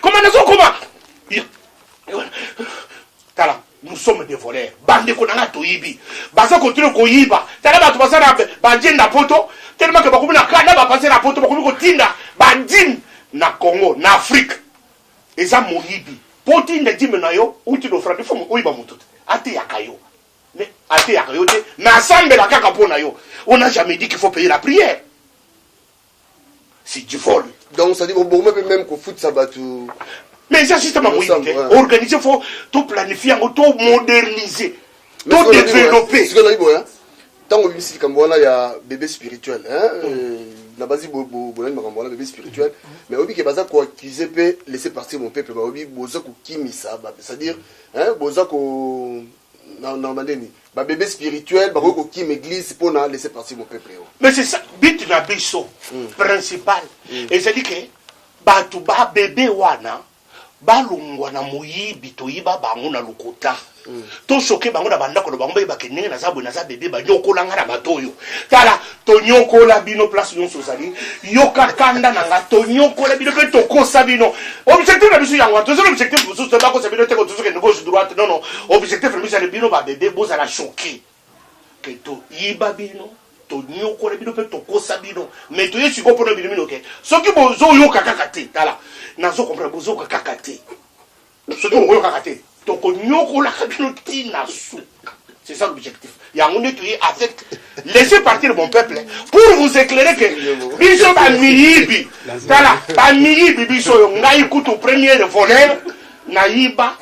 koma nazokoma tala nous sommes des voleurs bandeko na ngai toyibi baza kotino koyiba tala bato baza na badine na poto telema ke bakomi na kada bapase na poto bakomi kotinda badine na congo na afrique eza moyibi mpo otinda dime na yo uti lofrandi fo oyiba moto te ateyaka yo mais ateyaka yo te nasambela kaka mpo na yo on a jamais dit qu'il faut payer la prière c'est du vol donc ça dit ko boma pe même ko futisa batu mais eza système ya moyibi te organise fo to planifie yango to moderniser to développer sikoyo nayebi boya ntango obimisi likambo wana ya bebe spirituel mm. euh, na bazi bolandi makambo wana bebe spirituel mm. mais oyebi ke baza koaccuse mpe laisser partir mon peuple baoyebi boza kokimisa c'est-à-dire boza ko na ndeni ba bebe spirituel bakoki kokima eglise mpo na laisser partir bopeple yo mais c'est ça but na biso mm. principal mm. ezali ke bato ba bebe wana balongwa na moyibi toyiba bango na lokuta mm. tosoke bango na bandako na bango bayebake ndenge naza boye naza bebe banyokolanga na bato oyo tala Tonyokola bino place nyonso ozali, yoka kanda na nga, tonyokola bino pe tokosa bino. Objectif na biso yango wana, tozali objectif mosusu te, bakosa bino te, kotozo kende gauche droite, non non, objectif na biso yani bino ba bebe bozala choquer que toyiba bino, tonyokola bino pe tokosa bino, mais toye sikoyo pona bino mino ke soki bozoyoka kaka te, tala nazo comprendre bozoyoka kaka te. Soki bokoyokaka te, tokonyokolaka bino ti na suka. C'est ça l'objectif. Yango nde toye avec laissez partir mon peuple pour vous éclairer que biso bamiyibi tala bamiyibi biso oyo ngai kutu première voleur nayiba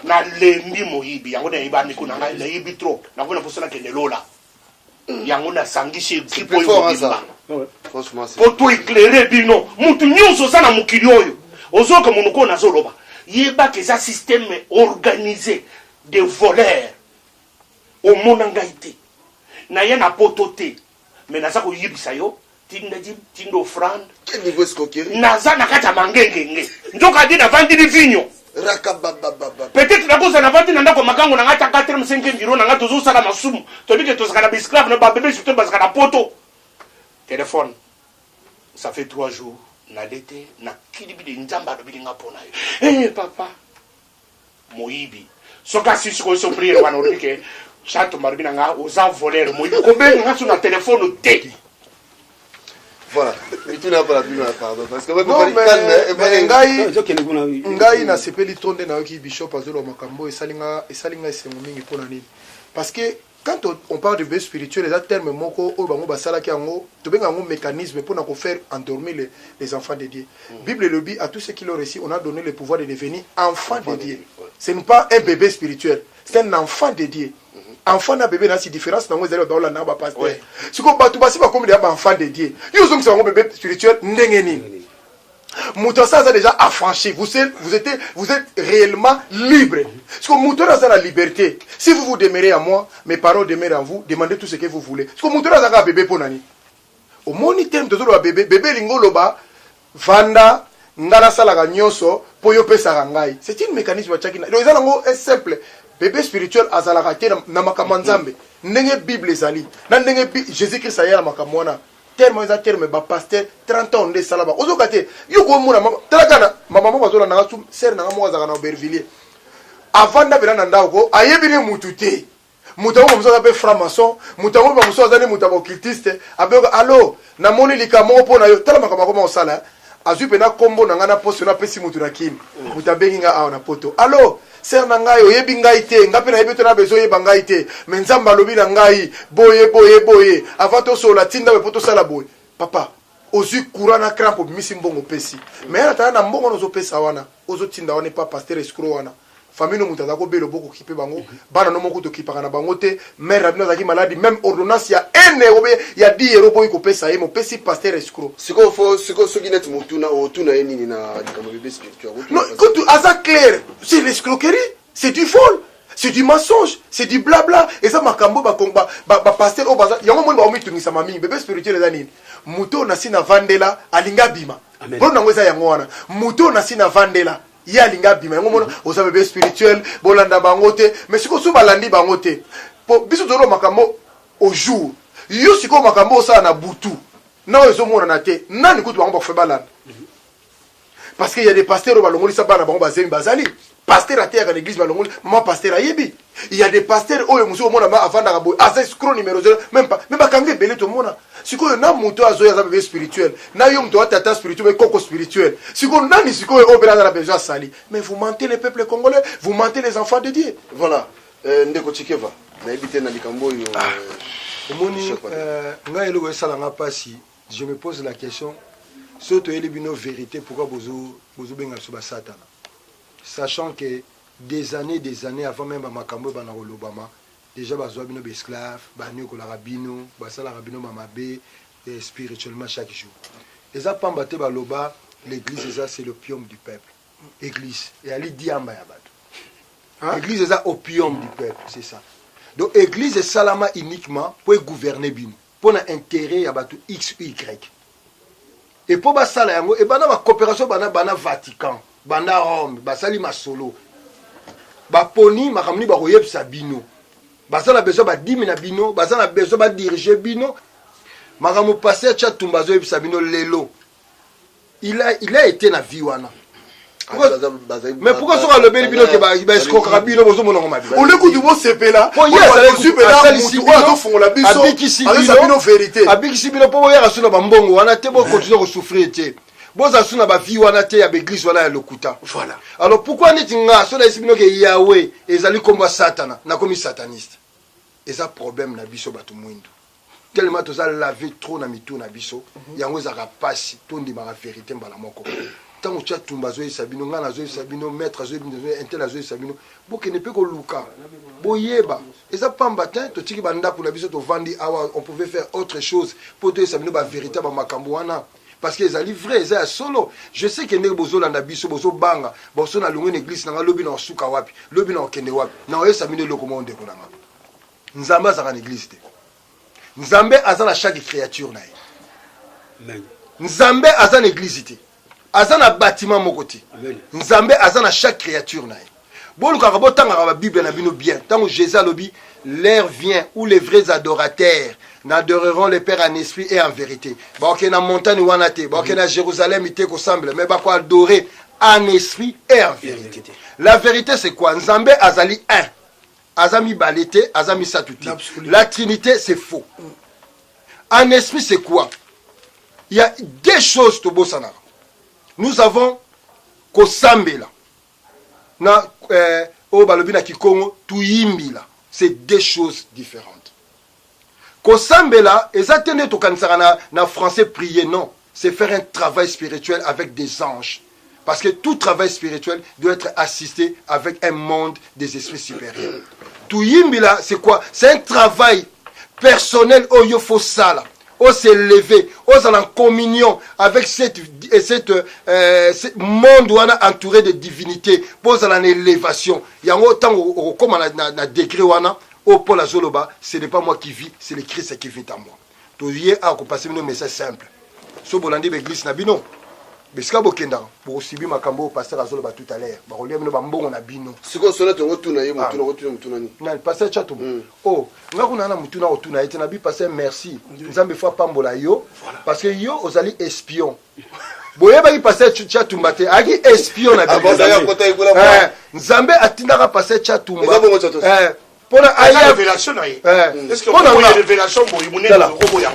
nalembi moyibi yango nayibami kuna ngai nayibi trop nakomi na mposa nakende lola yango nasangisi ekipe oyo mobimba mpo to eklere bino mutu nyonso oza na mokili oyo ozoyoka monoko oyo nazoloba yebaka eza systeme organise de voleur omona ngai te naye na poto te me naza koyebisa yo tinda ji tinda offrande Quel niveau escroquerie naza na kati ya mangengenge nzoka adi navandi ni vinyo Rakababababa. peut-être nakozala navandi na ndako makango na ngai ta 4 5 biro na ngai tozosala masumu toyebi ke tozalaka na baesclave na babebe surtout bazalaka na poto telefone ça fait 3 jours nalete nakilibi de nzambe alobeli ngai mpo na yo Eh, papa moyibi soki asisi ko souffrir wana olobi ke chato marubi na nga oza voleur moyibi kobenga nga so na telefone te voilà mituna mpona bino ya pardon parce que mais ngai ngai nasepeli to nde nayoki bishop azoloba makambo esali nga esali nga esengo mingi mpona nini parce que Quand on parle de veille spirituelle, eza terme moko oyo bango basalaki yango, tobenga yango mécanisme mpo na kofaire endormir les, les enfants de Dieu. Mm. Bible elobi à tous ceux qui l'ont reçu, on a donné le pouvoir de devenir enfant, enfant de, de Dieu. Ouais. Ce n'est pas un bébé spirituel, c'est un enfant de Dieu. Mm -hmm. Enfant na bébé nasi différence nango ezali baola na ba pasteur. Ouais. Siko bato basi bakomi deya ba enfant de Dieu. Yo ozongisa bango bébé spirituel ndenge nini? Mm -hmm. moto asa aza déjà affranchi vous, vous, êtes, vous êtes réellement libre siko moto oyo aza na liberté si vous vous demeurez à moi mes parents demeurent en vous demandez tout ce que vous voulez siko moto oyo aza kaka bebe mpo na nini omoni teme tozoloba bebe bebe elingi oloba vanda ngai nasalaka nyonso mpo yo opesaka ngai c'est une mécanisme atiaki donc eza nango eh, simple bebe spirituel azalaka te na makambo ya nzambe ndenge bible ezali na ndenge jésus christ aya na makambo wana Terme eza terme ba pasteur 30 ans nde sala ba ozoka te yo ko mona mama tala kana mama moko azola nanga sum sœur nanga moko azaka na Aubervilliers avant nda bela na ndako ko ayebi ne mutu te mutu yango mosusu aza pe franc maçon mutu yango ba mosusu aza ne mutu ya occultiste abeyoka allo na moni likambo moko mpo na yo tala makambo akoma kosala Azui pena kombo na nga na poso na pesi mutu na kin mutu abengi nga awa na poto allo sœur na ngai oyebi ngai te nga pe nayebi to na besoin oyeba ngai te mais nzambe alobi na ngai boye boye boye avant tosolola tinda boye po tosala boye papa ozwi courant na crampe obimisi mbongo opesi mais yala tala na mbongo wana ozopesa wana ozotinda wana epa pasteur escro wana famille no mutu aza ko belo boko kipe bango bana no moku to kipaka na bango te mère na bino azalaki maladi même ordonnance ya ene obe ya di euro boyi ko pesa ye mo pesi pasteur escro siko fo siko soki net mutuna o tuna ye nini na likambo bebe spirituel no kutu aza clair c'est l'escroquerie c'est du vol c'est du mensonge c'est du blabla eza makambo ba komba ba, ba pasteur o baza yango moni ba omi tungisa mami bebe spirituel eza nini muto na sina vandela alinga bima Amen. Bon nango eza yango wana muto na sina vandela ye alingi abima yango mona oza bebe spirituel bolanda bango te mais sikoyo so balandi bango te po biso tozoloba makambo au jour yo sikoyo makambo osala na butu na oyo ezomonana te nani kutu bango bakufe balanda parce que ya de pasteur oyo balongolisa bana bango bazemi bazali pasteur ateyaka na eglise balongoli mama pasteur ayebi Il y a des pasteurs oyo mususu omona ma avandaka boye aza escroc numero 0 même pas mais bakanga ebele tomona sikoyo na moto oyo azoya aza bebe spirituel na yo moto atata spirituel mais koko spirituel sikoyo nani sikoyo oyo mpena aza na besoin asali mais vous mentez les peuples congolais vous mentez les enfants de dieu voilà euh, ndeko chikeva nayebi te na likambo oyo ah. euh, omoni euh, ngai eloko esala nga mpasi je me pose la question soki toyeli bino vérité pourquoi bozobenga biso basatana sachant que bozo Des annees des annees avant meme ba makambo ebanda kolobama, dejà bazua bino ba esclaves, baniokolaka bino, basalaka bino ba mabe spirituellement chaque jour. Eza pamba te baloba l'eglise eza c'est l'opium du peuple. Eglise eyali diamba ya batu. Eglise eza opium du peuple, c'est ça. Donc eglise esalama uniquement po e gouverner bino. mpo na interet ya bato xy e mpo basala yango ebanda bacooperation banda bana vatican banda rome basali masolo baponi makambo nini bakoyebisa bino baza na besoin badimi na bino baza na besoin badirige bino makambo paster chatumba azoyebisa bino lelo il a, il a été na vie wana mais pourquoi soki alobeli bino ke baescrokaka bino bozomonango mabe ole kutu bosepela azofungola bisoaza bino verité abikisi bino mpo boyaka su na bambongo wana te bokontinue kosouffrir te boza su na bavie wana te ya baeglise wana ya lokuta voilà alors pourquoi neti nga so nayesi bino ke yawe ezali nkombo ya satana nakomi sataniste eza problème na biso bato mwindu tellement toza lave trop na mitu na biso mhm. yango ezalaka mpasi tondimaka verité mbala moko ntango tya tumba azoyebisa bino ngai nazoyebisa bino maître azoyebisa intel azoyebisa bino bokende mpe koluka boyeba eza pamba te totiki bandako na biso tovandi awa on pouvait faire autre chose mpo toyebisa bino baverité bamakambo wana parce que ezali vrai eza ya solo je sais ke ndenge bozolanda biso bozobanga boso na longo na eglise na ngai lobi na osuka wapi lobi na okende wapi na oyesa bino eloko moko ndeko na ngai Nzambe azalaka na eglise te. Nzambe aza na chaque créature na ye. Amen. Nzambe aza na eglise te. Aza na bâtiment moko te. Amen. Nzambe aza na chaque créature na ye. Bolukaka botangaka ba Bible na bino bien. Tango Jésus alobi l'heure vient où les vrais adorateurs n'adoreront le Père en esprit et en vérité. Baokende na montagne wana te, baokende na Jérusalem te kosemble, mais bako adorer en esprit et en vérité. La vérité c'est quoi? Nzambe azali un. aza mibale te aza misato te la trinité c'est faux en esprit c'est quoi il y a deux choses tobosanaka nous avons kosambela na euh, oyo balobi na kikongo tuyimbila c'est deux choses différentes Kosambela eza te nde tokanisaka na na français prier non c'est faire un travail spirituel avec des anges parce que tout travail spirituel doit être assisté avec un monde des esprits supérieurs. Tuyimbila c'est quoi? C'est un travail personnel oyo faut sala o se lever ozala en communion avec cette, euh, cette, euh, ce monde wana entouré de divinité mpo ozala na élévation yango ntango okokóma na, na, na degré wana Oyo Paul azoloba ce n'est pas moi qui vis, c'est le Christ qui vit en moi. Toye a kopase bino message simple. So bolandi ba église na bino, besika bokendaka bokosibi makambo oyo pasteur azoloba tout à l'heure bakolia bino bambongo na bino sikoyo solo te okotuna ye motuna ah. okotuna motuna nini nani pasteur chatum mm. o oh, nga kuna na motuna okotuna ye te na bi pasteur merci nzambe fo apambola yo parce que yo ozali espion boyebaki pasteur chatumba te ayaki espion na eh, nzambe atindaka pasteur chatumba mpona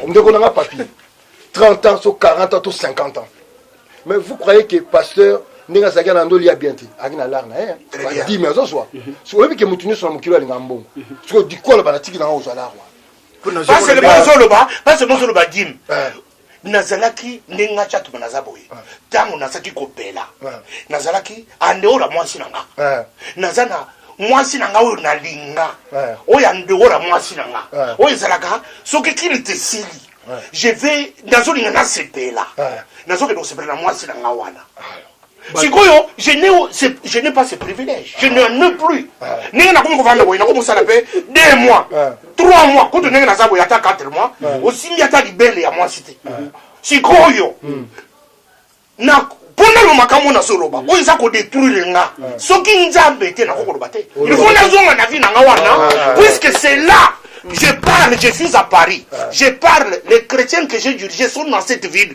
ndeko nanga papi 30 ans so 40 ans to 50 ans mais vous croyez que pasteur ndenge azalaki na ndoli ya bien te ayaki na lar na ye badimi azozwa oyebi ke motu nyonso na mokili alinga mbongo soki odikoloba na tiki nanga ozwa lar wana pasele mozoloba pasele mozoloba dime nazalaki ndenge nga cakima naza boye ntango nazalaki kobela nazalaki andeo na mwasi na nga naza na mwasi na nga oyo nalinga oyo andeo na mwasi na nga oyo ezalaka soki kini te esili je vais nazolinga nasepela nazokende kosepela na mwasi na nga wana sikoyo je n'ai pas ce privilège je n'en ai plus ndenge nakomi kovanda boye nako mosala mpe deux mois trois mois kutu ndenge naza boye ata quatre mois osimbi ata libele ya mwasi te sikoyo hmm. na mpona makambo nazoloba oyo eza kodetruire nga soki nzambe te nakoki koloba te ilfo nazonga na vi na nga wana ah, ah, ah. puisque c'est là je parle je suis à paris je parle les chrétiens que j'ai dirigé sont dans cette ville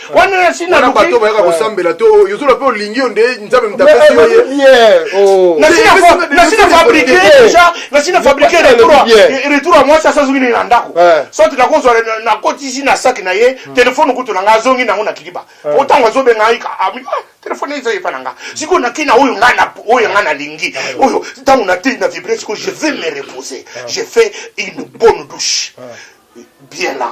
wana na sina wana bato bayaka kosambela to oyo ozoloba mpe olingi yo nde nzambe mutapesi yo ye oh. nasina fabrike deja nasina fabrike retour ya mwasi asazongi nini na ndako eh. soki nakozwa nakotisi na saki na ye hmm. telefone kutu na ngai azongi nango na kiliba eh. po ntango azobenga ah, ah, telefone eza epa na nga sikoyo nake na oyo ngai oyo ngai nalingi ah, oyo ntango natei na vibre sikoyo je vais me reposer je fais une bonne douche bien là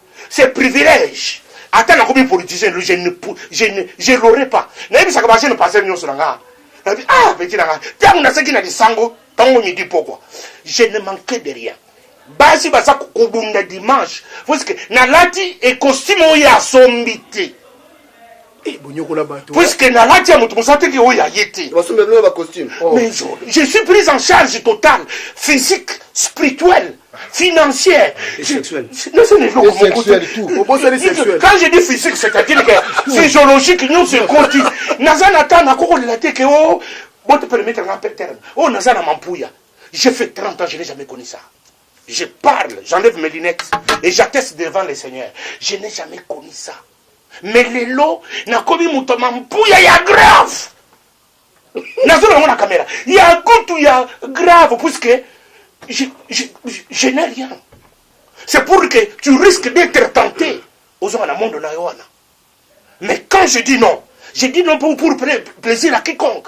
C'est privilège. Ata nakomi politicien, je ne je ne je l'aurai pas. Nayebisaka ba jeune pasteur nyonso na nga. Nabi ah petit na nga, tango naseki na lisango, tango midi pokwa. Je ne manquais de rien. Basi baza kobunda dimanche. Parce que nalati e costume oyo asombi te. Eh, bonyokola bato puisque nalati ya moto mosa teke oyo ya ye te basomba bino ba costume oh. mais je, je suis prise en charge totale physique spirituelle financière quand je dis physique c'est-à-dire que physiologique nyonso ekoti naza na ntango akokolela te ke o bote permettre na terme oyo naza na mampuya j'ai fait 30 ans je n'ai jamais connu ça je parle j'enlève mes lunettes et j'atteste devant le seigneur je n'ai jamais connu ça mais lelo nakomi moto ya mampuya ya grave nazoloba yango na kamera ya kutu ya grave puisque je, je, je, je n'ai rien c'est pour que tu risques d'être tenté ozonga na monde na yo wana mais quand je dis non je dis non pour, pour plaisir à quiconque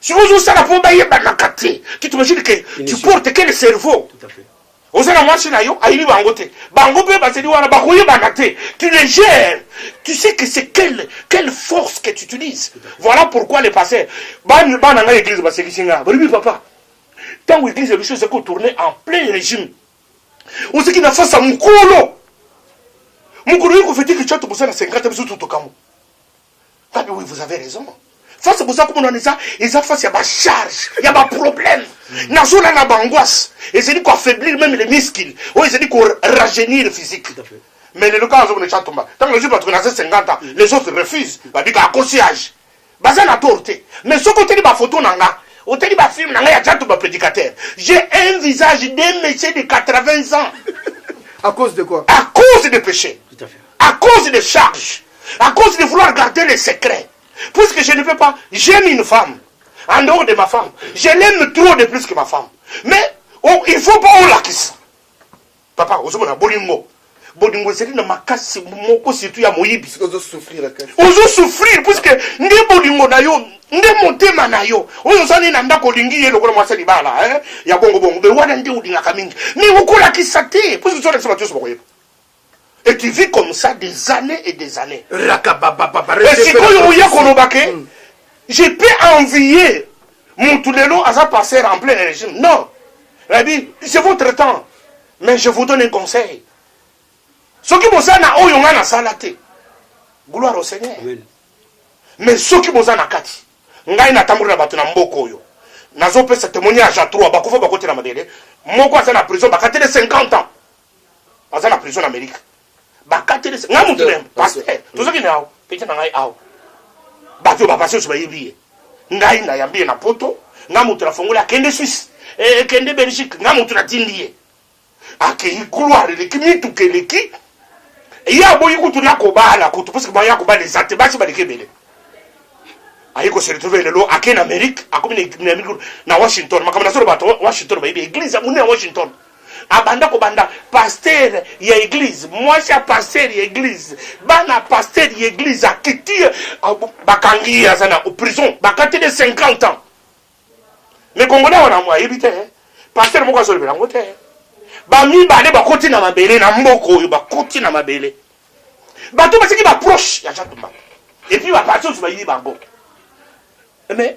soki ozosala mpo bayebanaka te tu t'imagine que tu porte que le cerveau oza na mwasi na yo ayebi bango te bango mpe bazali wana bakoyebana te tu les gères tu sais que c'est quelle, quelle force que tu utilises voilà pourquoi le pasteur bana ngai église basekisi ngai balobi papa ntango église ya biso ezali kotourne en plein régime ozalaki na fasa mokolo mokolo oyo kofetiki tya tokosala 50 biso totokambo Fabi, oui, vous avez raison. Face boza komona eza eza face ya ba charge ya ba problème hmm. nazona na bangoisse ezali ko affaiblir même les muscles oyo ezali ko rajeunir physique mais lelo kaka azokona cha tomba ntango nazwi bato naza 50 ans hmm. les autres refuse babika akosi age baza na tour te mais soki oteli bafoto na nga oteli bafilme na ngai ya jato baprédicateur j'ai un visage de monsieur de 80 ans à cause de quoi à cause de péché à cause de charge à cause de vouloir garder les secrets puisque je ne veux pas j'aime une femme en dehors de ma femme je l'aime trop de plus que ma femme mais oh, il faut pas olakisa papa ozomona bolingo bolingo ezali na makasi moko surtout ya moyibi ozo souffrir puisque nde bolingo na yo nde motema na yo oyo ozali na ndako olingi ye lokola mwasi ya libala eh? ya bongobongo be wana nde olingaka mingi me okolakisa te puisque ozolakisa bato nyonso bakoyeba et tu vis comme ça des années et des années rakabababa et sikoyo oya koloba ke mm. je peux envier mutu lelo aza passer en plein régime non rabi c'est votre temps mais je vous donne un conseil soki boza na oyo ngai nasala te gloire au seigneur Amen. mais soki boza na kati ngai natamboli na bato na mboka oyo nazopesa témoignage ya 3 bakufa bakotela mabele moko aza na prison bakatele 50 ans aza na prison na Amerika bakateli nga mutu na pasteur tozaki na awa pete na ngai awa bato oyo bapasi oso bayebi ye ngai nayambi ye na poto nga mutu nafongoli akende suisse ekende eh, belgique nga mutu natindi ye akei gloire eleki mituka eleki ye aboyi kutu nakobala kutu parce que baye akobala eza te basi baleki ebele aye koseretrouve lelo ake na amerike akomi na washington makambo nazoloba bato washington bayebi eglise ya monene ya washington Abanda kobanda pasteur ya eglise, mwasi ya pasteur ya eglise, bana ya pasteur ya eglise akiti ye, bakangi ye aza na prison, bakateli ye 50 ans. Mais congolais wana mwa ayebi te, pasteur moko azolobela yango te. Bamibale bakoti na mabele na mboka oyo, bakoti na mabele. Bato basiki ba proche ya Jacques Mbamba. Et puis ba partis bayibi bango. Mais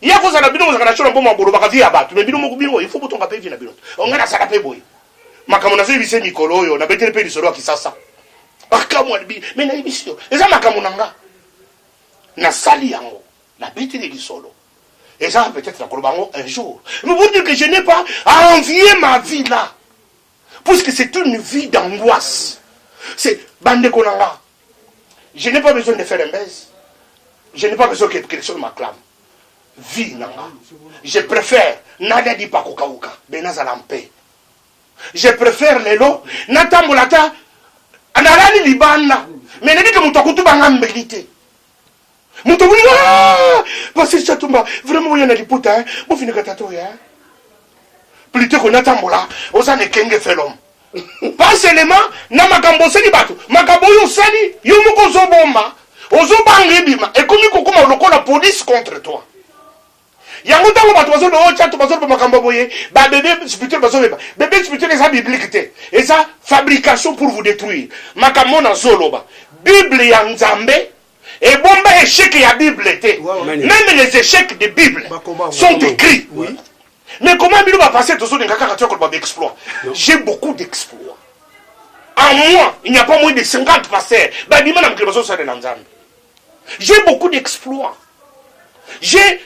Ye akoza na bino bozaka na shona mboma bolo baka vie ya bato me bino moko bino il faut botonga pe vie na bino. Onga na sala pe boye. Makambo nazo yebise mikolo oyo na betele pe lisolo ya kisasa. Makambo alibi me na yebisi yo eza makambo na nga. Na sali yango na betele lisolo. Eza peut-être na koloba yango un jour. Mais vous dire que je n'ai pas à envier ma vie là. puisque c'est une vie d'angoisse c'est bandeko na nga je n'ai pas besoin de faire un baise je n'ai pas besoin que quelque chose m'acclame vie na nga je préfère nada di pakokauka be nazala mpe je préfère lelo natambola ata nalali libanda mais nayebi ke moto akutubanga mbeli te Moto moni ah! Pasteur Chatumba vraiment oya na liputa hein. Bo fini kata to ya. Plutôt qu'on atambola, oza ne kenge felom. Pas seulement na makambo osali bato, makambo oyo osali yo moko ozobomba, ozobanga ebima, ekomi kokoma lokola police contre toi. yango ntango bato bazoloba oyo chato bazoloba makambo boye babebe spirituel bazobeba bebe spirituel eza biblique te eza fabrication pour vous détruire makambo nazoloba bible ya nzambe ebomba echec ya bible te meme les échecs de bible sont écrits oui. mais comment bino bapasse tozolinga kaka tia koloba baexploit j'ai beaucoup d'exploit en moi il n'y a pas moins de 50 pasteurs babima na mokili bazosalela nzambe J'ai beaucoup d'exploits. J'ai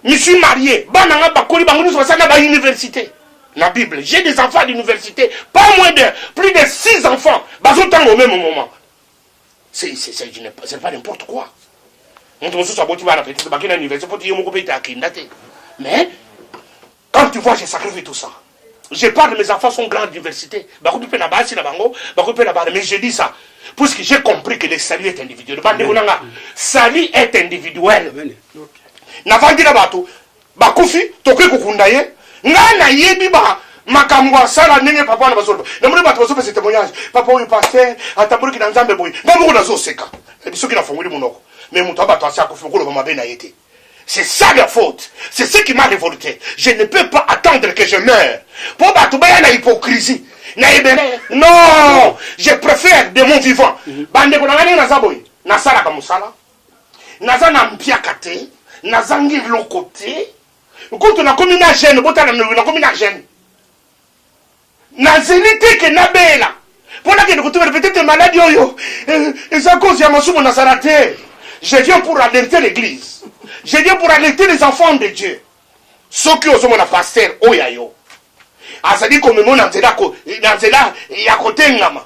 me suis marié, bana nga bakoli bango nyonso basala na ba université. Na Bible, j'ai des enfants d'université, pas moins de plus de six enfants bazotanga au même moment. C'est c'est c'est je n'ai pas- c'est pas n'importe quoi. Moto mosusu aboti bana peut-être bakenda université mpo te ye moko mpe ete akenda te. Mais Quand tu vois je sacrifie tout ça. Je parle de mes enfants sont grands diversité. Bakoki pe na basi na bango, bakoki pe na bana mais je dis ça puisque j'ai compris que le salut est individuel. Bande ko nanga salut est individuel. Na vandi na bato bakufi tokoki kokunda ye ngai nayebi ba makambo asala ndenge papa wana bazoloba namoni bato bazopesa témoignage papa oyo paster atamboliki na nzambe boye ngai moko nazoseka na bisoki nafongoli monoko me moto ya bato asi akufi okoloba mabe na ye te C'est ça la faute. C'est ce qui m'a révolté. Je ne peux pas attendre que je meure. Pour battre la hypocrisie. Non, je préfère de mon vivant. Mhm. Bande ko nangani na zaboy. Na sala ka musala. Na za na mpiaka te, na zangi lokote. Kutu na komi na jeune, botala na komi na jeune. Na zeli te que na bela po na kende ko tubela peut etre maladie oyo eza cause ya masumu na sala te je viens pour alerter l'eglise je viens pour alerter les enfants de Dieu soki ozo mona pasteur oyo ya yo azali ko mema yo na nzela ya kotengama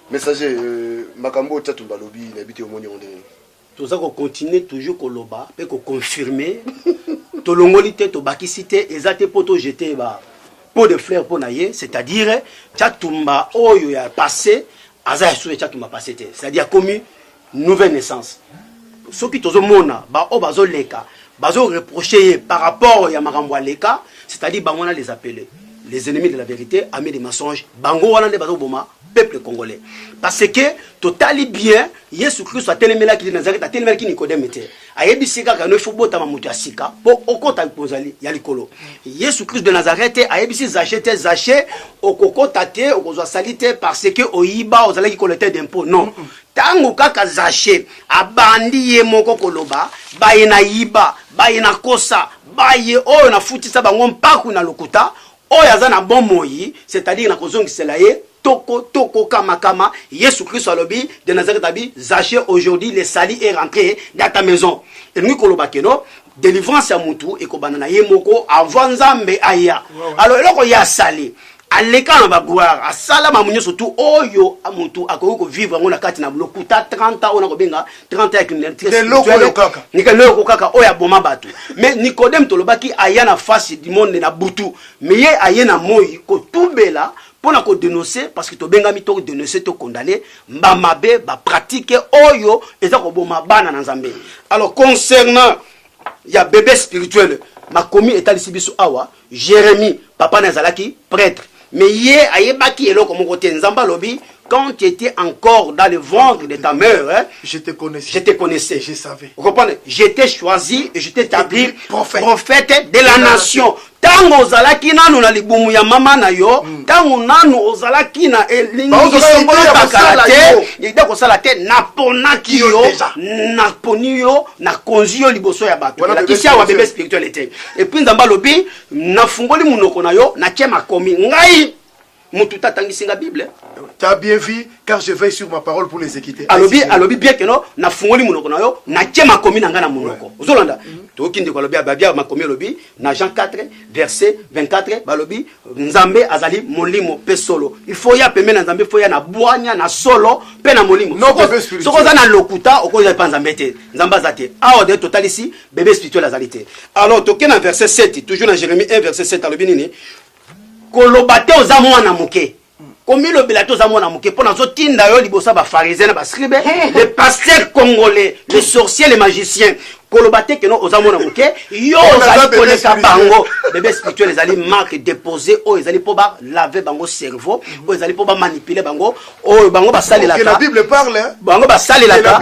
Messager, euh, makambo oyo Tatumba alobi nayebi te omoni yango ndenge nini? toza kocontinue toujours koloba mpe koconfirme tolongoli te tobakisi te eza te mpo tojete ba pot de fleur mpo na ye c'est-à-dire chatumba oyo ya passé aza ya susu ya chatumba passé te c'est-à-dire akomi nouvelle naissance soki tozomona baoyo bazoleka bazo reproche ye par rapport ya makambo aleka c'est-à-dire bango wana les appelés les ennemis de la vérité amis de mensonge bango wana nde bazoboma peuple congolais parce que totali bien yesu kristo atelemelaki ye nazarete atelemelaki nikodeme te ayebisi ye kaka no ifo botama moto ya sika mpo okota kozali ya likolo yesu kristo de nazarete ayebisi zache te zache okokota te okozwa sali te parce que oyiba ozalaki kolete dempo non Tango kaka Zache abandi ye moko koloba baye na yiba, baye na kosa, baye oyo na futisa bango mpaku na lokuta, oyo aza na bomoi, c'est-à-dire na kozongisela ye toko toko, kama kama, Yesu Kristo alobi, de Nazareth abi, Zache aujourd'hui le salut est rentre dans ta maison. Elingi koloba que no delivrance ya mutu ekobanda na ye moko avant nzambe aya alors eloko ye asali aleka na bagloire asala mamu nyonso tu oyo motu akoki kovivre yango na kati na lokuta 30 ans oyo nakobenga 30 ya criminaliténikeloko kaka oyo aboma bato mais nicodème tolobaki aya na face du monde na butu mais ye aye na moi kotubela mpo na kodenonse parce que tobengami to denonse to condamne mba mabe ba pratique oyo eza koboma bana na nzambe alors concernant ya bebe spirituel makomi etalisi biso awa jérémie papa na ezalaki prêtre mais ye ayebaki eloko moko te nzambe alobi quand tu étais encore dans le ventre de ta mère, hein, je te connaissais. Je te connaissais. Je savais. Vous comprenez J'étais choisi et je t'ai établi prophète. prophète de la nation. ntango ozalaki nanu na libumu ya mama na yo hmm. ntango mm. nanu ozalaki na elingisokolobakala te ide kosala te naponaki yo naponi yo nakonzi yo liboso ya bato elakisi awa bebe spirituel ete epuis nzambe alobi nafungoli monoko na yo natie makomi ngai mutu ta tangisi nga bible ta bien vie car je veille sur ma parole pour les équiter alobi alobi bien que no na fungoli munoko na yo na tie makomi na nga na munoko ozolanda mhm. toyoki ndeko alobi ababia makomi alobi na jean 4 verset 24 balobi nzambe azali molimo mpe solo il faut ya pembe na nzambe faut ya na bwanya na solo mpe na molimo soki oza na lokuta okozala mpa nzambe te nzambe aza te awa de totalisi bebe spirituel azali te alors toke na verset 7 toujours na jérémie 1 verset 7 alobi nini koloba te oza mwana moke komilobela te oza mwana moke mpo nazotinda yo liboso ya bafarisien na bascribe le pasteur congolais le sorcier le magicien koloba te keno oza mwana moke yo ozali koleka bango bebe spirituel ezali marque dépose oyo ezali mpo balave bango cerveau oyo ezali mpo bamanipule bango oyo bango basalelaka bango basalelaka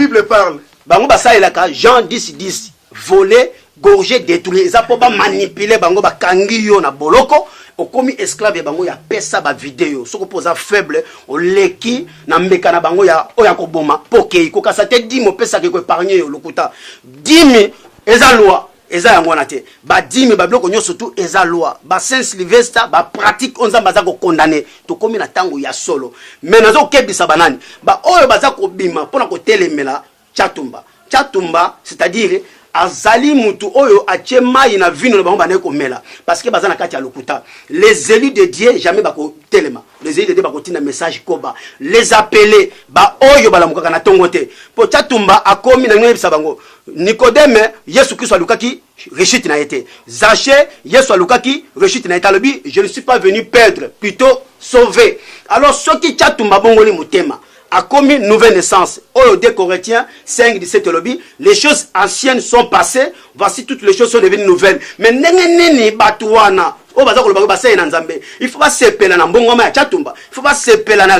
bango basalelaka jean 10 10 voler gorge détourner eza mpo bamanipule bango bakangi yo na boloko okomi esclave ya bango ya pesa bavideo soki mpo oza faible oleki na mbeka na bango ya oyo ya koboma mpo okei kokasa te dime opesaka ekoepargne yo lokuta dime eza lwa eza yango wana te badime babiloko nyonso tu eza loi ba saint sylvester bapratique oyo nzambe aza kokondane tokómi na ntango ya solo me naza kokebisa banani baoyo baza kobima mpo na kotelemela chatumba chatumba c'est-à-dire azali mutu oyo atie mai na vino na bango bandaki komela parce que baza na kati ya lokuta les élus de dieu jamais bakotelema les élus de dieu bakotinda message koba les appele baoyo balamukaka na ntongo te mpo chatumba akomi na ngai yebisa bango Nikodeme, Yesu Kristo alukaki rechute na ye te. Zache, Yesu alukaki rechute na ye te, alobi je ne suis pas venu perdre, plutôt sauver. Alors soki Chatumba abongoli motema, akomi nouvelle naissance oyo 2 corinthiens 5 17 elobi les choses anciennes sont passées voici toutes les choses sont devenues nouvelles mais ndenge nini bato wana oyo baza koloba ko baseye na nzambe il faut basepela na mbongwama ya chatumba il faut basepela na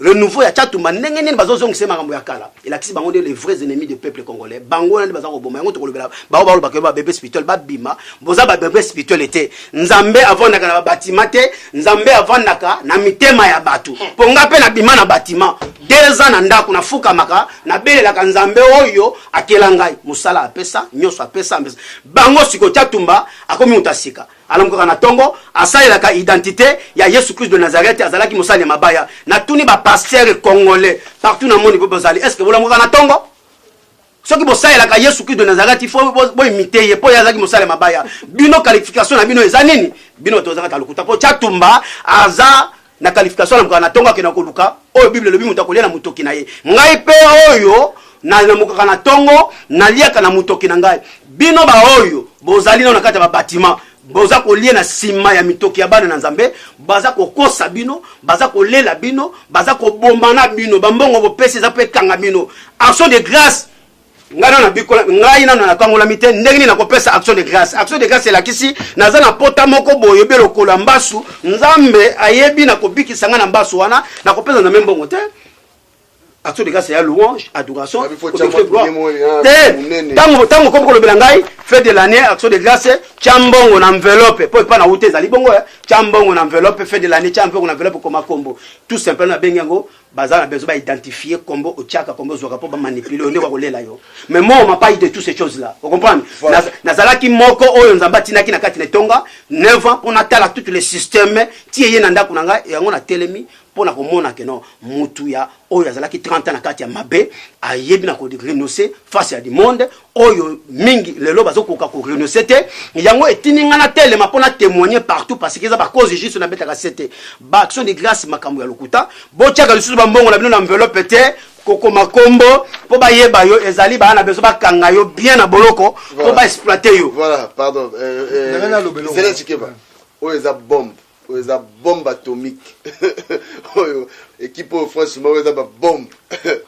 renouveau ya chatumba ndenge nini bazozongisa makambo ya kala elakisi bango nde les vrais ennemis de peuple congolais bango wana nde baza koboma yango tokolobela bao balobaka yo babebe spirituel babima boza babebe spirituel te nzambe avandaka na babatima te nzambe avandaka na mitema ya bato mpo nga mpe nabima na batima deux ans na ndako nafukamaka nabelelaka nzambe oyo akela ngai mosala apesa nyonso apesa bango sikotia tumba Akomi moto ya sika. Alamukaka na tongo. Asalelaka identite ya Yesu Christ de Nazareth. Azalaki mosali ya mabaya. Natuni ba pasteurs congolais partout na moni bo bozali est-ce que bolamukaka na tongo? soki bosalelaka yesu kristo nazareti fo boimite ye mpo ye azalaki mosala ya mabaya bino qualification na bino eza nini bino bato bazalaka lokuta mpo chatumba aza na qualification na mokaka natonga akenda koluka oyo bible elobi moto akolia na motoki na ye ngai mpe oyo nalamukaka na ntongo naliaka na motoki na ngai bino baoyo bozali nao na kati ya babatima boza kolia na nsima ya mitoki ya bana na nzambe baza kokosa bino baza kolela bino baza kobomana bino bambongo bopesi eza mpe ekanga bino action de grâce ngai nano nabikola ngai nano nakangolami te ndenge nini nakopesa action de grâce action de grâce elakisi naza na pota moko boye obe lokolo ya mbasu nzambe ayebi nakobikisa ngai na mbasu wana nakopesa nzambe mbongo te action de grâce ya louange adoration te ntango ntango okomi kolobela ngai fait de l'année action de grâce tya mbongo na enveloppe mpo epai na uta ezali bongo tya mbongo na enveloppe fait de l'année tya mbongo na enveloppe koma kombo tout simplement nabengi yango baza na besoin ba identifier kombo otiaka kombo ozwaka mpo ba manipuler yo nde bakolela yo mais moi on m'a pas eu de toutes ces choses là o comprendre voilà. nazalaki moko oyo nzambe atinaki na kati na etonga 9 ans mpo natala toutes les systèmes ti eye na ndako na ngai yango natelemi mpo na komona ke no mutu ya oyo azalaki 30 ans na kati ya mabe ayebi na ko renoncer face ya du monde oyo mingi lelo bazokoka korenonce te yango etindi ngai natelema mpo na témoigne partout parce que eza bacause juste nabetaka se te baaction de grâce makambo ya lokuta botyaka lisusu bambongo na bino na enveloppe te kokoma nkombo mpo bayeba yo ezali bana bezo bakanga yo bien na boloko mpo baexploite yo voilà pardon euh, euh, zela cikeba oyo eza bombe oyo eza bombe atomique oyo ekipe oyo franchement oyo eza babombe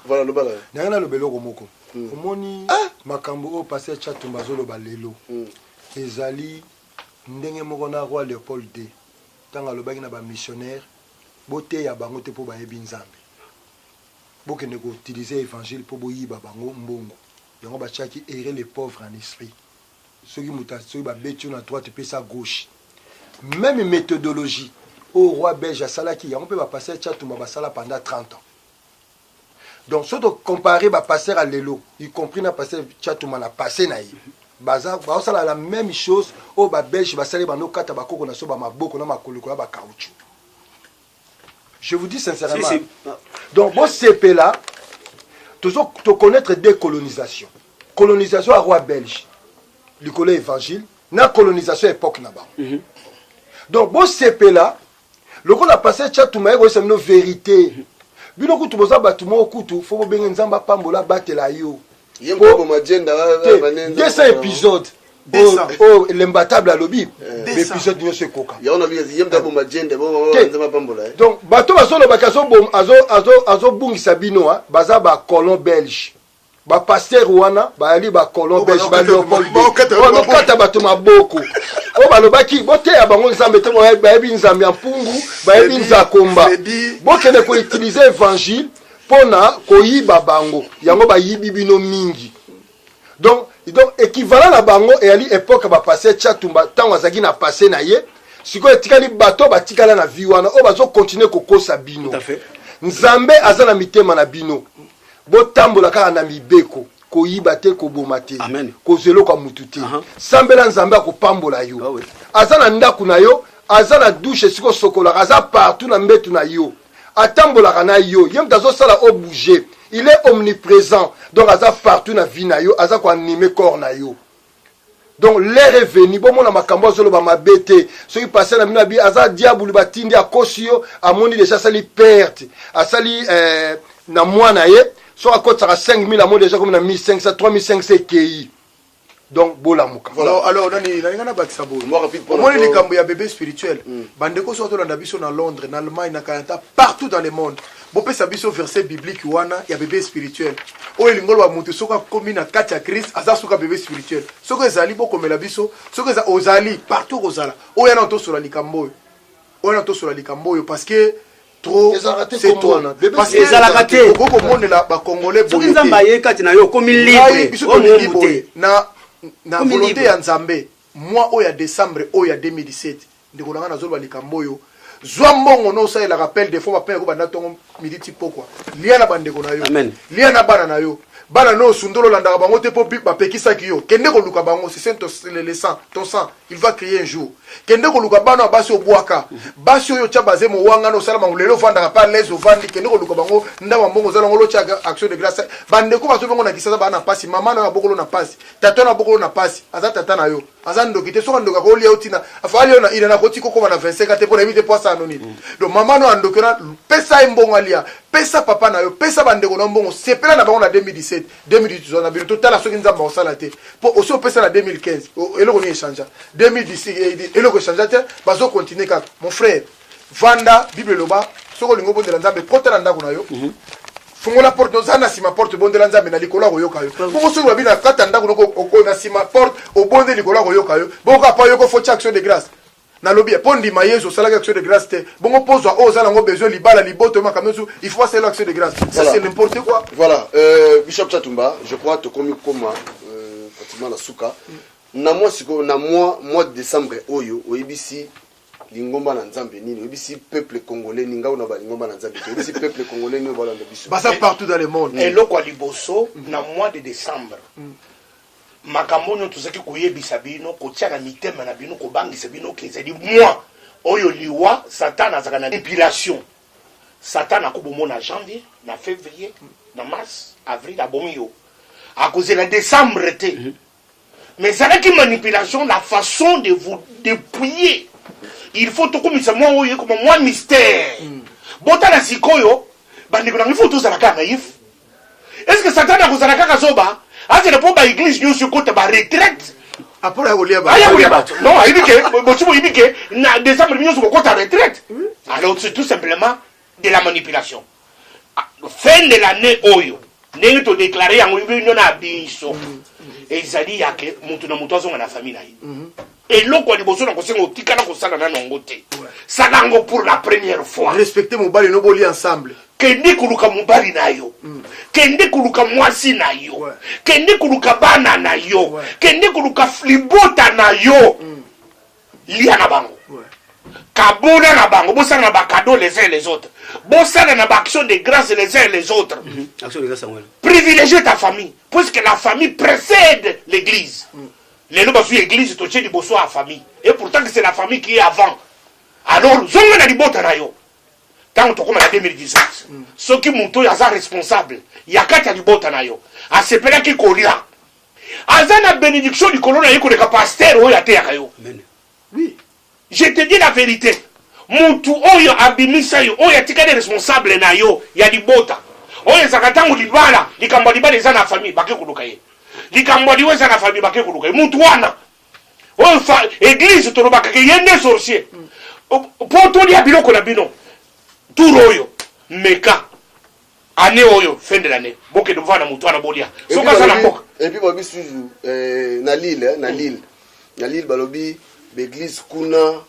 voilà lobala nanga naloba eloko moko mm. omoni ah! makambo oyo paster chatumba azoloba lelo mm. ezali ndenge moko na roi leopold d ntango alobaki na bamissionnaire boteya bango te mpo bayebi nzambe bokende koutilize évangile mpo boyiba bango mbongo yango batiaki ere le pauvre en esprit soki moto soki babeti yo na droite epesa gauche meme méthodologie oyo roi belge asalaki yango mpe bapaster chatumba basala pendant 30 ans donc soki tocompare bapasteur ya lelo y compris na pasteur chatuma na passe na ye baza baosala la même chose oyo babelge basali banda okata bakoko na so bamaboko na makoloko ya bacauchu je vous dis sincèrement si, si. donc bosepela tozo toconnaître décolonisation colonisation ya roi belge likolo ya évangile na colonisation ya époque na bango mm -hmm. donc bosepela lokola pasteur chatuma ye koyesa bino verite bino kutu boza bato moko kutu fo bobenge nzambe apambola abatela yo ye mpo aboma jenda Te, 200 épisode Deux cents. oyo lembatable alobi Deux cents. baepisode nyonso ekoka yango na biye ye mpe aboma jenda Te. nzambe apambola ye donc bato bazolobaki azobom- azo- azo- azobungisa bino a baza bacolon belge ba pasteur wana bayali ba colon belge ba leopold bakata bato maboko oyo balobaki boteya bango nzambe te bayebi nzambe ya mpungu bayebi nzakomba bokende koutilize évangile mpo na koyiba bango yango bayibi bino mingi donc donc équivalent na bango eyali epoke ya bapasteur chatumba ntango azalaki na passe na ye sikoyo etikali bato oyo batikala na vie wana oyo bazokontinue kokosa bino nzambe aza na mitema na bino botambola kaka na mibeko koyiba te koboma te kozwa eloko ya mutu te sambela nzambe akopambola yo ah aza na ndako na yo aza na dushe esika osokolaka aza partout na mbetu na yo atambolaka na yo ye moto azosala o bouge il est omniprésent donc aza partout na vie na yo aza koanime corps na yo donc l'heure est venu bomona makambo azoloba mabe te soki pase na bino abi aza diabulu batindi akosi yo amoni deja asali perte asali eh, na mwana ye soki akotisaka 5000 amoni deja komi na 1500 3500 ekei donc bolamuka voilà. alors nani nalinga nabakisa boye omoni likambo ya bebe spirituel mm. bandeko soki tolanda biso na londres na allemagne na canada partout dans le monde bopesa biso verset biblique wana ya bebe spirituel oyo elingi oloba moto soki akomi na kati ya krist aza suka bebe spirituel soki ezali bokomela biso soki eza ozali partout kozala oyo yana tosola likambo oyo oyo yana tosola likambo oyo parce que trop Ezalaka te c'est kombo trop wana. Bebe parce que spirituel ezalaka te. okoki komonela bakongole soki boye nzambe te ayei kati na yo okomi Ngai, libre biso oyo tolingi mobu boye te na, na Komi volonté libre. ya nzambe mwa oyo ya décembre oyo ya 2017 Ndeko na nga na zoloba likambo oyo zwa mbongo no osalela rappel de fois ba père ko banda tongo midi ti pokwa lia na bandeko na yo Amen. lia na bana na yo bana no osundolo landaka bango te po ba pekisaki yo kende ko luka bango si c'est ton le, le sang ton sang il va crier un jour kende ko luka bana basi obwaka basi oyo tia baze mo wanga no sala bango lelo vandaka pa l'aise ovandi kende ko luka bango ndama mbongo zala ngolo tia action de grâce bandeko bazo bongo na kisasa bana pasi mama na yo abokolo na pasi tata na bokolo na pasi aza tata na yo aza ndoki te soki andoki akolia yo tina afali yo na ina na koti kokoma na 25 te mpo nayebi te mpo asala no nini donc mama no andoki ona pesa ye mbongo alia pesa papa na yo pesa bandeko na mbongo sepela na bango na 2017 2018 tozala na bino totala soki nzambe akosala te mpo osi opesa na 2015 eloko nini echangea 2010 eloko echangea te bazokontinue kaka mon frère vanda bible eloba soki olingi obondela nzambe kota na ndako na yo mm -hmm. fungola porte oza na nsima porte obondela nzambe na likolo akoyoka yo bongo soki babi na kata ndako noko na nsima porte obonde likolo akoyoka yo bongo kaka mpo ayoko foti action de grâce nalobi mpo ndima yesu osalaki action de grâce te bongo pozwa oyo oza nango besoin libala liboto makambo nyonso il faut asalela action de grâce ça c'est n'importe quoi voilà euh, bishop chatumba je crois tokomi koma euh, pratiquement na suka na mwa sikoyo na mwa mois de décembre oyo oyebisi lingomba na nzambe nini oyebisi peuple congolais ninga oyo na balingomba na nzambe te oyebisi peuple congolais nini balanda biso baza partout dans le monde eloko ya liboso mm. na mois de décembre mm. makambo oyo tozalaki koyebisa bino kotia na mitema na bino kobangisa bino ke ezali moi oyo liwa satana azalaka na epilation satana akobomona janvier na février mm. na mars avril abomi yo akozela décembre te mais ezalaki manipulation la façon de vous dépouiller il faut tokumisa mwa oyo ekoma mwa mystère mm. botala sikoyo bandeko nango ifo tozala kaka naïf est ce que satana akozala kaka zoba azela mpo baeglise nyonso ekota baretraite apona akolia bato non ayebi ke bosi boyebi ke na décembre nyonso kokota retraite alors c'est tout simplement de la manipulation fin de l'année oyo ndenge todeklare yango bino na biso ezali yake moto na moto azonga na famille na ye mhm. eloko ya liboso na kosenga otikala kosala nano yango te sala yango pour la première fois respecte mobali no boli ensemble kende koluka mobali na yo mm. kende koluka mwasi na yo kende koluka bana na yo kende koluka libota na yo mm. lia na bango kabona na bango bosala na bakado les uns les autres bosala na baaction de grâce les uns les autres mhm. privilégie ta famille puisque la famille précède l'église mm. lelo bazwi église totie liboso ya famille et pourtant que c'est la famille qui est avant alors zonga na libota na yo ntango tokóma na 2018 mm. soki moto oyo aza responsable ya kati ya libota na yo asepelaki kolia Aza na benediction likolo na ye koleka pasteur oyo ateyaka yo. Amen. Oui. Je te dis la verite. Mutu oyo abimisa yo, oyo atikali responsable na yo ya libota. Oyo ezaka tango libala, likambo libala eza na famille, bake koluka ye. Likambo liwa eza na famille, bake koluka ye. Mutu wana. Oyo fa, église tolobaka ke yende sorcier. Mm. Po tolia biloko na bino. Tour oyo. Meka. annee oyo fin de l'annee bokende kovanda na motu wana bolia soki aza na mboka epuis balobi suzu eh, na lille eh, na mm. lille na lille balobi baeglise kuna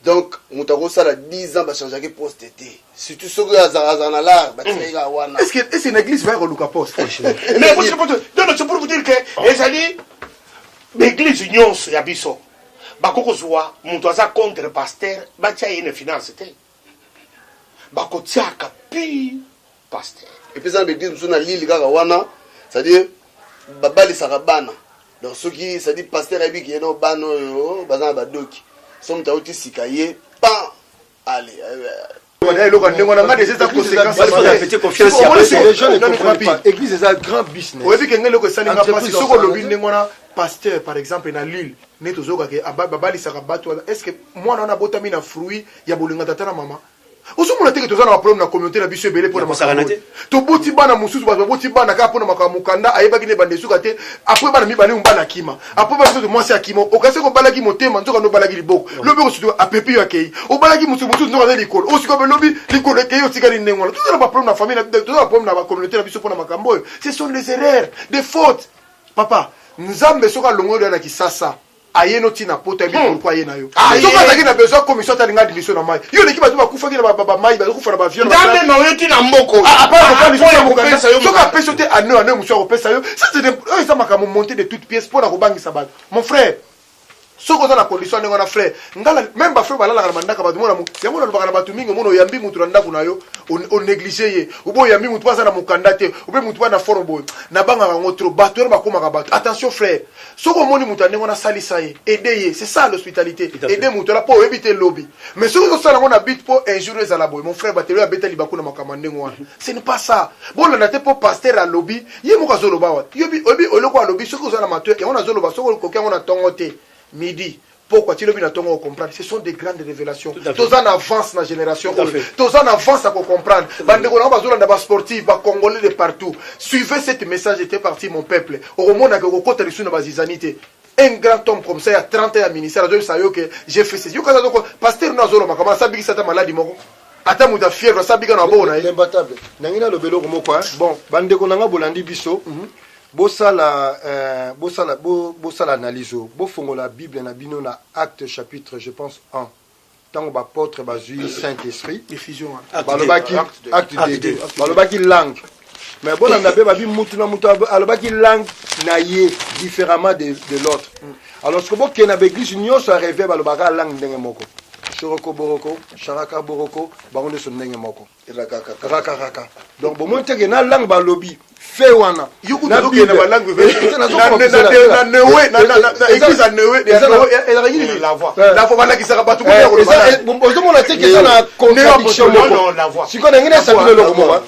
donc moto akosala 10 ans bachangeaki poste te surtout soki azalaka na lar batikaki kaka wana ese na eglise vaya koluka poste donc pour vous dire que oh. ezali baeglise nyonso ya biso bakoki kozwa moto aza contre pasteur batya ye na finance te bakotiaka pi pasteur epuis eza na baeglise mosusu na lili kaka wana cestadire babalisaka bana donc soki cestadire pasteur ayebi ke no bana oyo baza na badoki so moto auti sika ye pan ale eloko ndenge wana nga deja eza conséquenceeglise eza grand business oyebi ke nga eloko esali nga pasi soki olobi ndenge wana pasteur par exemple na lille neti ozokake babalisaka bato wana est ce que mwana wana abotami na fruit ya bolinga tata na mama ozomona teke toza na baproblème na communauté na biso ebele mpo na makambo toboti bana mosusu bato baboti bana kaka mpo na makambo mokanda ayebaki ne banda esuka te apres bana mibale mobali akima apres bana soki mwasi akima okasi kobalaki motema nzoka nde obalaki liboko lobi okosutuka apepi yo akei obalaki mosusu mosusu nzoka nde likolo osika mpe lobi likolo ekei otikali ndenge wana toza na baproblème na famille toza na baproblème na bacommunauté na biso mpo na makambo oyo ce sont les erreurs des fautes papa nzambe soki alongoli yo na kisasa aye no tina poto ayebi hmm. pourquoi aye na yo ah, soki azalaki na besoin commission ata alinga admission na mai yo oleki bato bakufaki na bamai bazokufa na bavion nzambe na oyo tina mboko ah, soki apesi yo te ane ane mosu akopesa yo oyo eza makambo monte de toute pièce mpo na kobangisa bato mon frère soki oza na condition ndenge wana frère ngala meme bafrère balalaka na bandaka bato mona yango nalobaka na bato mingi omona oyambi motu na ndako na yo onéglige ye obe oyambi motu mpo aza na mokanda te obe motu mpo na forme boye nabangaka yango trop bato wana bakomaka bato attention frère soki omoni moto ya ndenge wana asalisa ye aide ye c'est ça l'hospitalité aide moto wana mpo oyebi te lobi mais soki ozosala yango na but mpo un jour ezala boye mon frère batelo abeta libaku na makambo ya ndenge wana mhm. ce n'est pas ça bolanda te mpo pasteur alobi ye moko azoloba wa oyebi eloko alobi soki oza na matoi yango nazoloba soki okoki yango na ntongo te midi pokwa ti lobi na ntongo ocomprendre ce sont des grandes révélations toza na avance na génération oyo toza na avance ya kocomprendre bandeko nango bazolanda basportive bacongolais de partout suivez cette message était parti mon peuple okomonaka okokota lisusu na bazizani te un grand homme comme ça ya 30 ans ya ministère azoyebisa yo ke j'ai fait ceci yokaza zoko pasteur no azolomaka ma asabikisa ata maladi moko ata moto ya fièvre asabika na boko na ye imbattable nangi naloba eloko moko bon bandeko na nga bolandi biso mhm. Bosala, euh, bosala, bo, bosala analyse oyo. Bofongola Bible na bino na Acte chapitre, je pense, 1. Tango bapôtre bazui Saint-Esprit, Effusion wana. Acte balobaki deux. Acte deux. acte Acte 2 deux, acte balobaki langue mais bolanda mpe babi mutu na mutu abo- alobaki langue na ye différemment de, de l'autre alors siko bokende na baeglise nyonso ya reve balobaka langue ndenge moko shoroko boroko sharaka boroko bango nyonso ndenge moko rakakaka donc bomoni teke na langue balobi fe wana balakisaka batoozomona teke eza na contradiction moko sikoyo nangi nasabino eloko moko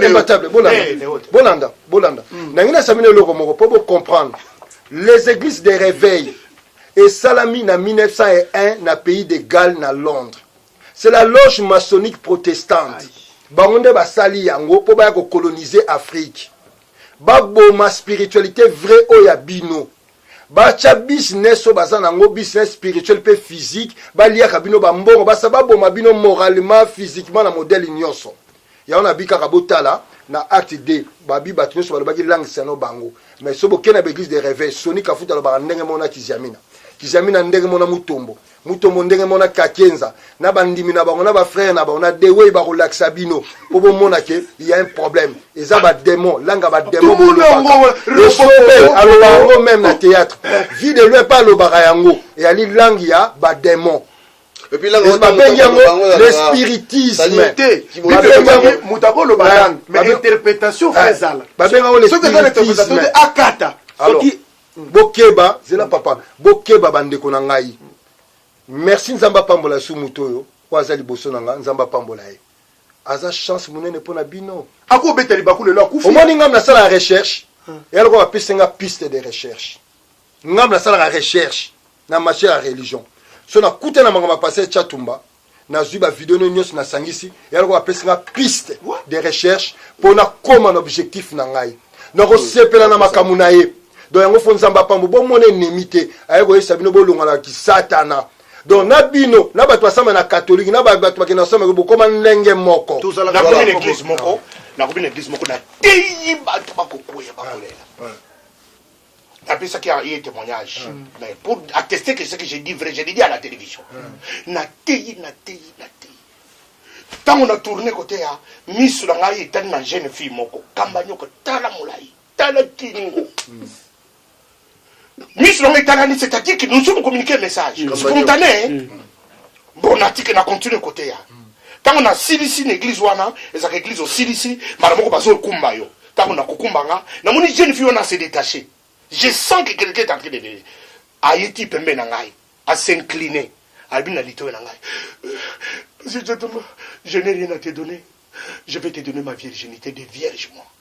imbatable bolanda bolanda nangi nasabino eloko moko mpo bocomprendre les églises de réveil esalami na 1901 na pays de galles na londres C'est la loge maçonnique protestante. Bango nde basali yango mpo baya kokolonize Afrique. Baboma spiritualite vrai oyo ya bino. Batya business oyo baza nango business spirituel mpe physique, baliaka bino bambongo, basa baboma bino moralement, physiquement na modèle nyonso. Yango nabi kaka botala na acte 2 babi bato nyonso balobaki langue sano bango mais so bokei na baeglise de reveil soni kafuta alobaka ndenge mona kiziamina kiziamina ndenge mona mutombo mutombo ndenge mona kakenza na bandimi na bango na bafrere na bango na dewey bakolakisa bino mpo bomona ke ya un problème eza bademon langa bademon alobaka yango meme na théâtre vie de loi mpe alobaka yango eyali langue ya bademon babengi yango le spiritisme moto akoloba langue mais interprétation fo ezala babengi yango le spiritisme akata soki Bokeba, zela papa, bokeba ba ndeko na ngai. Merci Nzambe apambola su moto oyo oyo aza liboso na nga, Nzambe apambola ye. Aza chance munene mpo na bino. Ako beta libaku lelo akufi. Omoni ngambo na sala recherche, ya lokola bapesi nga piste de recherche. Ngambo na salaka recherche. na matière ya religion so nakuta na makambo ya pase ya chatumba nazwi bavideo no nyonso nasangisi yaloko bapesi nga piste de recherche mpo nakoma na objectif na ngai nakosepela na makambo na ye donc yango fo nzambe apambo bomona enemi te aye koyesa bino bolongana kisatana donc na bino na bato basamba na katolike na bato bakenda kosamba bokoma ndenge moko nakomi na eglise moko nakomi na eglise moko nateyi bato bakokweya bakolela napesaki ye témoignage mm. mais pour attester que ce que j'ai dit vrai je l'ai dit à la télévision mm. nateyi nateyi nateyi ntango na tourne kote ya miso na ngai etali na jeune fille moko kamba nyoko tala molai tala kingo mm. miso na ngai etalani c'est-à-dire que nous sommes communiqué message spontané bon natike na continue koteya ntango nasilisi na eglize wana ezalaka eglize osilisi mbala moko bazokumba yo ntango nakokumba nga namoni jeune fille wana se détache je sens que quelqu'un est en train de venir aye ti pembe na ngai asincline alobi na litoyo na ngai je n'ai rien à te donner je vais te donner ma virginité de vierge moi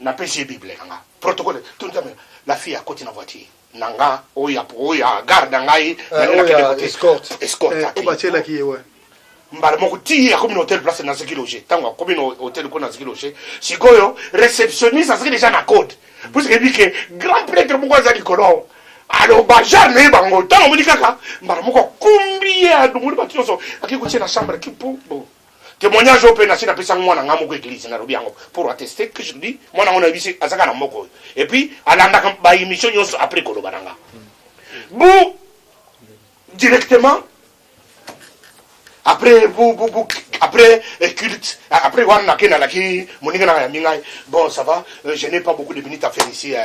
na pesi bible na nga protocole tunza me la fille a koti na voiture na nga oya oya garde na ngai na nga kende ko escort escort ko ba chela ki yewe mbala moko ti akomi na hotel place naziki loge ntango akomi na hotel ko naziki loge sikoyo réceptionniste aziki déjà na code puisque ebi ke grand prêtre moko aza likolo aloba genre na ye bango ntango omoni kaka mbala moko akumbi ye adongoli bato nyonso akei kotie na chambre kipo bon Témoignage oyo pe nasi na pesa mwana nga moko église na lobi yango pour attester que je dis mwana ngo na yebisi azaka na moko et puis alandaka ba émission nyonso après koloba na nga. Vous directement après vous vous vous après culte après wana na kenda na ki moninga na ya mingai bon ça va Euh, je n'ai pas beaucoup de minutes à faire ici. Euh,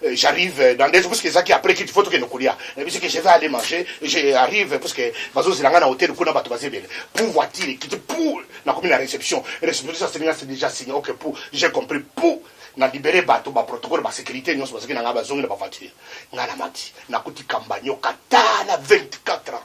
euh, j'arrive dans des parce que ça qui après qu'il faut que nous coulions. Et puis que je vais aller manger, j'arrive parce que bazo zilanga na hôtel kuna batu bazebele. Pour voiture qui te pour na comme la réception. Réception ça c'est déjà signé. OK pour j'ai compris pour na libéré bato ba protocole ba sécurité nyonso bazaki na ngai bazongi na baventile ngai na mati nakuti kambanyo kata na 24 ans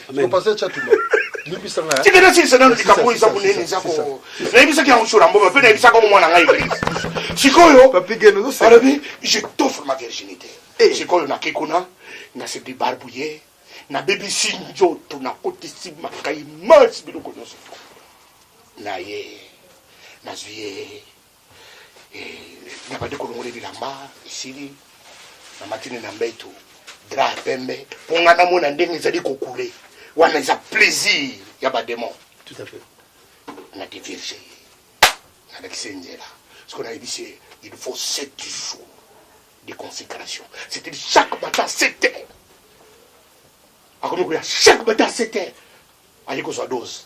Amen. Pasteur Chatumba. Limbisa nga. Tika na sisa nanu likambo oyo eza monene eza ko. Nayebisaki yango sur mboka mpe nayebisaka yango mwana ngai eglise. Sikoyo Papi Geno ozoseka. alobi je t'offre ma virginité. Eh. Sikoyo nakei kuna na se debarbouiller nabebisi nzoto nakotisi makai masi biloko nyonso naye nazwi ye nabandi kolongola bilamba esili na matini na mbetu dra ya pembe mpo ngai namona ndenge ezali kokule wana eza plaisir ya bademon tout à fait na divirge ye nalakisi ye nzela sikoyo nayebisi ye il faut sept jours de consécration c'est-à-dire chaque matin sept heures akomi koya chaque matin sept heures aye kozwa dose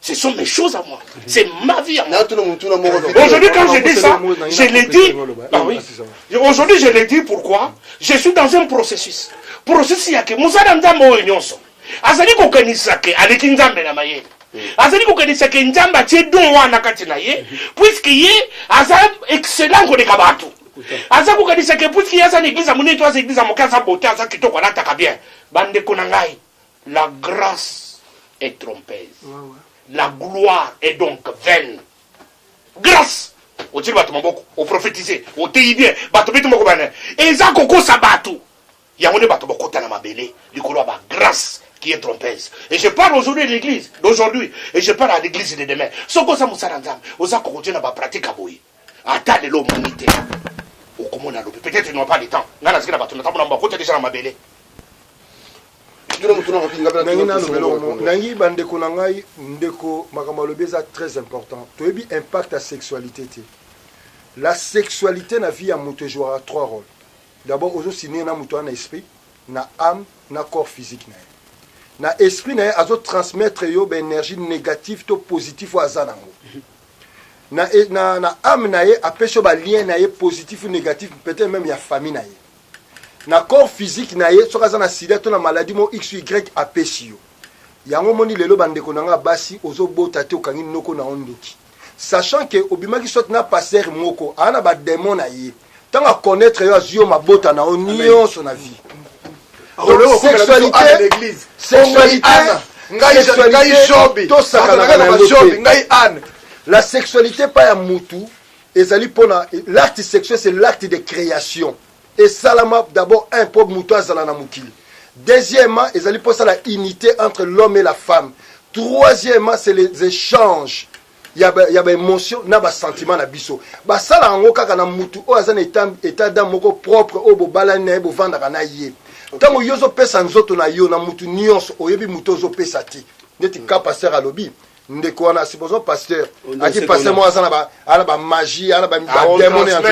Ce sont mes choses à moi. C'est ma vie à moi. Aujourd'hui, quand je dis ça, je l'ai dit. Ah oui. Aujourd'hui, je l'ai dit pourquoi Je suis dans un processus. Processus, il y a que Moussada Nzambo et Nyonso. Azali kokanisa ke aleki Nzambe na mayele. Mm. azali kokanisa ke nzambe atie don wana kati na ye mm. puiske ye aza excellent koleka bato aza kokanisa ke puiske ye aza na eglise ya monene to aza eglise ya moke aza bote aza kitoko alataka bien bandeko na ngai La grace est trompeuse. La gloire est donc vaine. Grace otili bato maboko oprofetize oteyi bien bato beti moko bana eza kokosa bato yango nde bato bakota na mabele likolo ya bagrace qui est trompeuse et je parle aujourd'hui de l'église d'aujourd'hui et je parle à l'église de demain soki oza mosala nzambe oza kokotie na bapratique ya boye ata lelo omoni te okomona lobi peut-être ils n'ont pas le temps ngai naziki na bato natambola mbo akota deja na mabele nangi bandeko na ngai ndeko makambo alobi eza très important toyebi impact ya sexualité te la sexualité na vie ya moto ejouaka trois rôle d'abord ozosinie na moto wana na esprit na âme na corps physique na ye na esprit na ye azotransmettre yo baénergie négative to positif oyo aza nango na, e, na, na ame na ye apesi yo balien na ye positif ou négatif peut-être même ya famille na ye na corps physique na ye soki aza na sida to na maladie mo x y apesi yo yango omoni lelo bandeko na ngai ya basi ozobota te okangi noko na yo ndoki sachant ke obimaki soit na passer moko aa na bademon na ye Tant à connaître yo azwi yo mabota na yo nyonso na vie donc sexualité sexualité ngai jobi tosakanaka na bajobi ngai ane la sexualité epai ya mutu ezali mpona l'acte sexuel c'est l'acte de création esalama d'abord un mpo moto azala na mokili deuxièmement ezali mpo esala unité entre l'homme et la femme troisièmement c'est les échanges ya ba, ya ba emotion na ba sentiment na biso basala yango kaka na mutu oyo aza na etat d'âme moko propre oyo bobalani na ye bovandaka na ye ntango yo ozopesa nzoto na yo na mutu nyonso oyebi mutu ozopesa te neti ka pasteur alobi ndeko wana supposons pasteur aki pasteur moko aza na ba ana ba magie ana ba ah, demone yango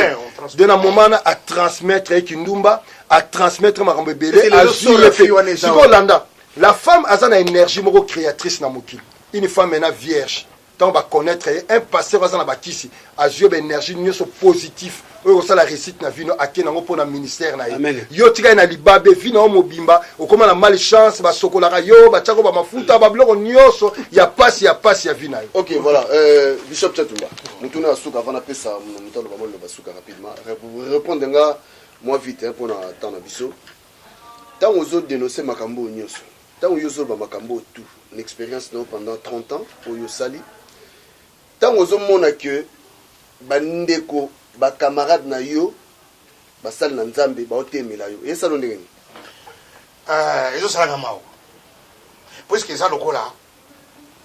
de na moment na a transmettre ye kindumba a transmettre makambo ebele azwi ye mpe sikoyo landa la femme aza na énergie moko créatrice na mokili Une femme maintenant vierge ntango ba connaître ye un pasteur aza na bakisi azwi yo baénergie nyonso positif oyo kosala réussite na vino ake nango mpo na ministère na ye Amen. yo tika ye na libabe vi na yo mobimba okoma na mal chance basokolaka yo batiako bamafuta babiloko nyonso ya pasi ya pasi ya vi na yo Ok, voilà. Euh, Bishop Chatumba, mutuna ya suka avant na pesa moto aloba mwa loba suka rapidement. Rep- Répondre nga mwa vite hein, mpo na temps na biso. Ntango ozo denoncer makambo oyo nyonso, Tango yo ozoloba makambo oyo tout, na experience na yo pendant 30 ans oyo osali, tango ozomona que ba ndeko, ba camarades na yo basali na Nzambe baotemela yo, esala yo ndenge nini? Ezosalanga mawa puisque eza lokola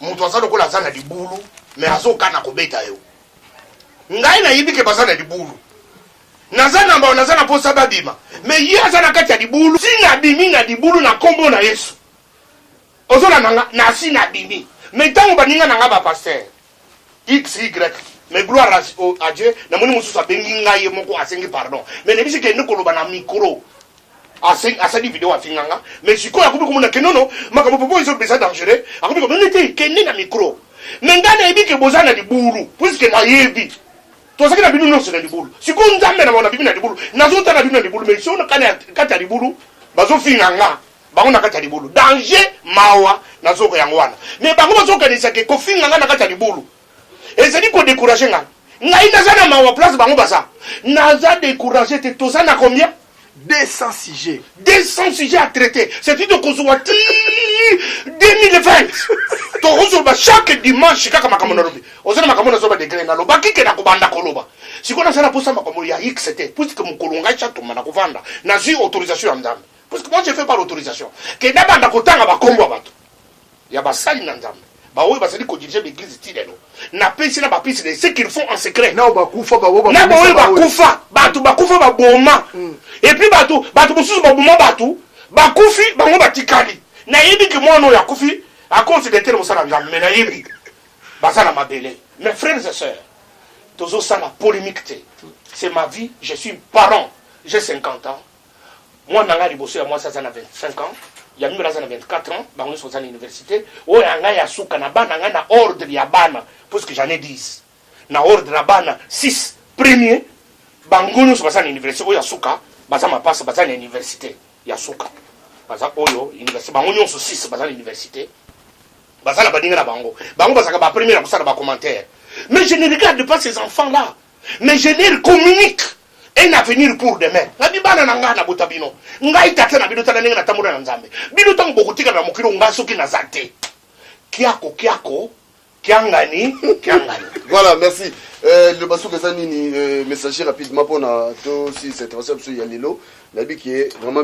moto aza lokola aza na libulu me azokana kobeta yo ngai nayebi ke baza na libulu naza na mbao naza na mposa babima me ye aza na kati ya libulu si nabimi na libulu na nkombo na yesu ozolanda nga nasi nabimi me ntango baninga na nga bapaster xy mais gloire à, à dieu namoni mosusu abengi ngai ye moko asengi pardon mais nayebisi kende koloba na micro asali video afinga nga mais sikoyo akomi komona ke nono makambo popo ezobe eza dangereux akomi komona te kende na micro mais ngai nayebi ke boza na libulu puiske nayebi tozalaki na bino nyonso na libulu sikoyo nzambe na mona bimi na libulu nazotala bino na libulu mais sio kati ya libulu bazofinga nga bango na kati ya libulu danger mawa na zoko yango wana me bango bazokanisa ke kofinga ngai na kati ya libulu ezali kodecourage ngai ngai naza na mawa place bango baza naza decourage te toza na combien 200 sujets 200 sujets à traiter cest de kozwa ti 2020 tokozoloba chaque dimanche kaka makambo nalobi oza na makambo nazoba degre naloba kike na kobanda koloba sikoyo nasala mposa makambo ya x te puisque mokolo ngai chatoma na kovanda nazwi autorisation ya nzambe Parce que moi je fais pas l'autorisation que nabanda kotanga bakombo ya bato ya basali na nzambe baoyo bazali kodirige baeglise ti lelo napesi na bapesi de ce qu'ils font en secret na baoyo bakufa bato bakufa baboma mm. epuis bato bato mosusu baboma bato bakufi bango batikali nayebi ke mwana oyo akufi akonsi detere mosala ya me nayebi baza na mabele mes frères et sœurs tozosala polémique te c'est ma vie je suis parent j'ai 50 ans mwana na ngai liboso ya mwasi aza na 25 ans ya mibale aza na 24 ans bango nyonso baza na université oyo ya ngai ya suka na bana ngai na ordre ya bana puisque j'en ai 10 na ordre ya bana 6 premier bango nyonso baza na université oyo ya suka baza mapasa baza na université ya suka baza oyo université bango nyonso 6 baza na université baza na baninga na bango bango bazalaka bapremier na kosala bacommentaire mais je ne regarde pas ces enfants là mais je leur communique un avenir pour demain nabi bana na ngai nabota bino ngai tata na bino tala ndenge natambola na nzambe bino ntango bokotikala na mokili ngai soki naza te kiako kiako kiangani kiangani voilà merci euh, le basuka eza nini euh, messager rapidement mpona tosilisa intervention biso ya lelo nayebi ke vraiment